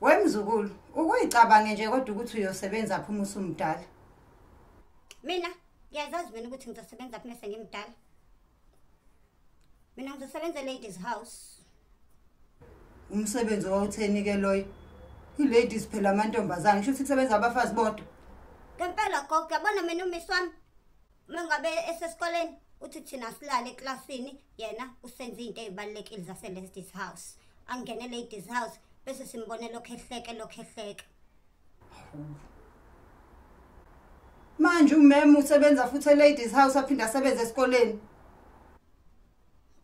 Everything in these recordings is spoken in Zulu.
Wemzukulu, ukuyicabange nje kodwa ukuthi uyosebenza phuma usumdala. Mina ngiyazazi mina ukuthi ngizosebenza phuma sengimdala. Mina ngizosebenza ladies house. Umsebenzi owawutheni ke loyo? I-ladies phela amantombazane, kusho ukuthi kusebenza abafazi bodwa. Ngempela gogo, yabona mina umiswami uma ngabe esesikoleni uthi thina silale eklasini yena usenza izinto ezibalekile zase ladies house angene ladies house bese simbone lokho ehleke lokho ehleke manje umem usebenza futhi eladies house aphinde asebenze esikoleni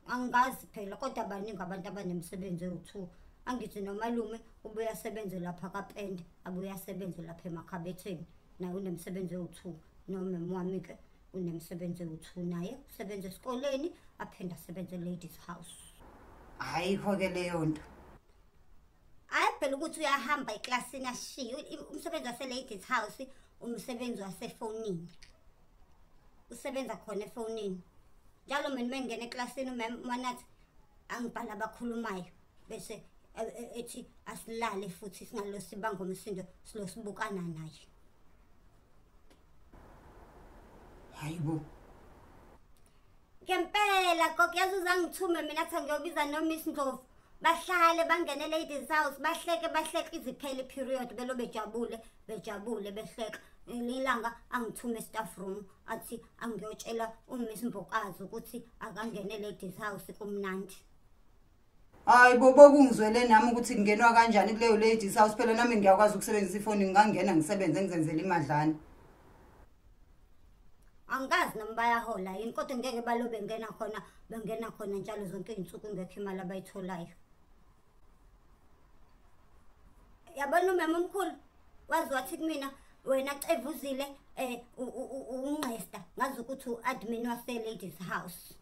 angazi phela kodwa baningi abantu abanemisebenzi ewu-two angithi nomalume ubuye asebenze lapha kapende abuye asebenze lapha emakhabetheni naye unemsebenzi ewu-two nomem wami-ke unemsebenzi ewu-two naye usebenza esikoleni aphinde asebenze e-ladies house ayikho-ke leyo nto hayi phela ukuthi uyahamba eklasini ashiye umsebenzi wase-ladies house umsebenzi wasefonini usebenza khona efonini njalo mina uma ngingena eklasini umam wanathi angibhala abakhulumayo bese e, e, ethi asilale futhi singalosi bangomsindo silosibukana naye hayibo ngempela gogo yazi uzangithume mina kuthiwa ngiyobiza nomiss ndlovu bahlale bangene eladies house bahleke bahleke iziphele iperiod belo bejabule bejabule behleka ilanga angithume estaff room athi angiyotshela umiss mbokazi ukuthi akangene eladies house kumnandi hayi bobo kungizwele nami ukuthi kungenwa kanjani kuleyo ladies house phela nami ngiyakwazi ukusebenzisa ifoni ngingangena ngisebenze ngizenzele imadlana angikazi noma bayahola yini kodwa ngeke balo bengena khona bengena khona njalo zonke iy'nsuku ingekho imali abayitholayo yabona umama omkhulu wazi wathi kumina wena cevuzile um ungqesta ngazi ukuthi u-admin wase-ladies house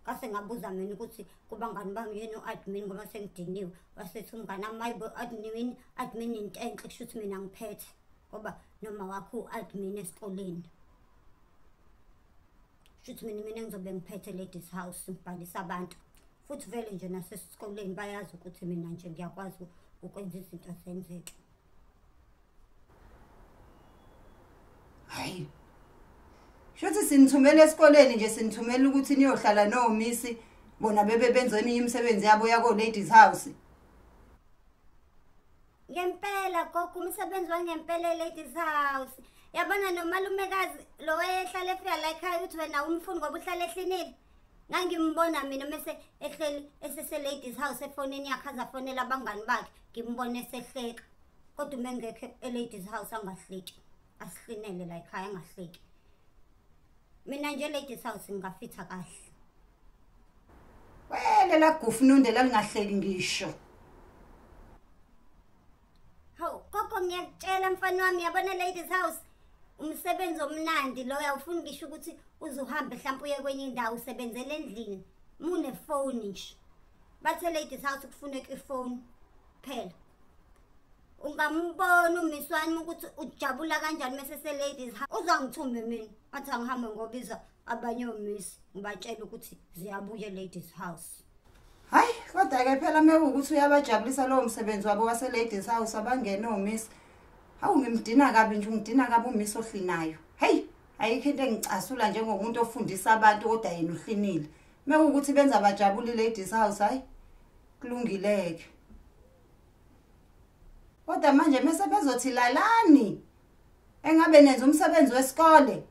ngase ngabuza mina ukuthi kubangani bami yena u-admin ngoba sengidiniwe wasethi umngane amayibo admin admin into enhle kusho ukuthi mina ngiphethe ngoba noma wakho u-admin esikoleni shuthi mina mina ngizobe ngiphethe ladies house ngibhalisa abantu futhi vele nje nasesikoleni bayazi ukuthi mina nje ngiyakwazi ukwenza izinto zenzeke hayi shothi sinithumela esikoleni nje sinithumela ukuthi niyohlala nomisi bona bebe benza eminye imisebenzi yabo yako ladies house ngempela gogo umsebenzi wangempela ladies house yabona nomalumekazi lo wayehlala efika la ekhaya ukuthi wena umfuni ngoba uhlala ehlinile ngangimbona mina mese ehleli esese-ladies house efonini yakhe azafonela abangani bakhe ngimbona esehleka kodwa uma engekho e-ladies house angahleki asihlinele la ekhaya angahleki mina nje e-ladies house ngingafitha kahle wele lagufununde lalingahleki ngisho hawu gogo ngiyakutshela mfana wami yabona ladies house umsebenzi omnandi loyo awufuni ngisho ukuthi uze uhambe mhlawumpe uye kwenye indawo usebenzela endlini munefoni nje bathe ladies house kufuneka ifoni phela ungambona umiswani ukuthi ujabula kanjani mese se ladies house uzangithumbe mina athi angihambe ngobiza abanye omisi ngibatshela ukuthi ziyabuye ladies house hayi kodwa-ke phela mewukuthi uyabajabulisa lowo msebenzi wabo wase-ladies house abangene omisi hawu ngimdina kabi nje ungidina kabi umisi ohlinayo heyi ayikho into engicasula njengomuntu ofundisa abantu kodwa yena uhlinile mekuwukuthi benza bajabule i-ladies house hhayi kulungileke kodwa manje mese bezothi lalani engabe nenza umsebenzi wesikole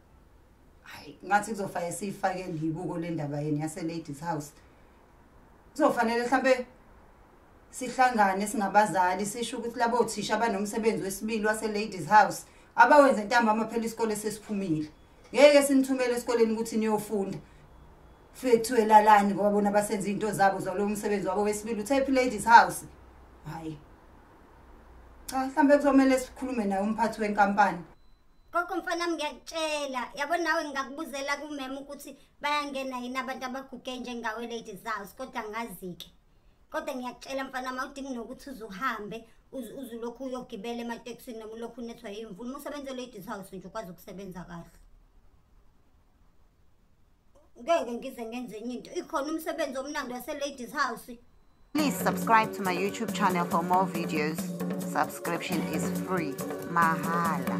hayi ngathi kuzofanele siyifake libuko le ndaba yeni yase-ladies house kuzofanele mhlawumbe sihlangane singabazali sisho ukuthi labo othisha abanomsebenzi wesibili wase-ladies house abawenze ntambama phela isikole sesiphumile ngeke sinithumele esikoleni ukuthi niyofunda fike kuthiwe lalani ngoba bona basenza iy'nto zabo zalowo msebenzi wabo wesibili uthe phi ladies house hhayi cha mhlambe kuzomele sikhulume naye umphathi wenkampani koko mfanami ngiyakutshela yabo nawe ngingakubuzela kumema ukuthi bayangena yini abantu abaguge njengawe lady zaws kodwa ngazi-ke kodwa ngiyakutshela mfanami awudingi nokuthi uze uhambe uzulokhu uyogibela ematekisini noma ulokhu unethwa yimvula uma usebenze lady zaws nje ukwazi ukusebenza kahle ngeke ngize ngenze enye into ikhona umsebenzi omnandi waseladies house Please subscribe to my YouTube channel for more videos. Subscription is free. Mahala.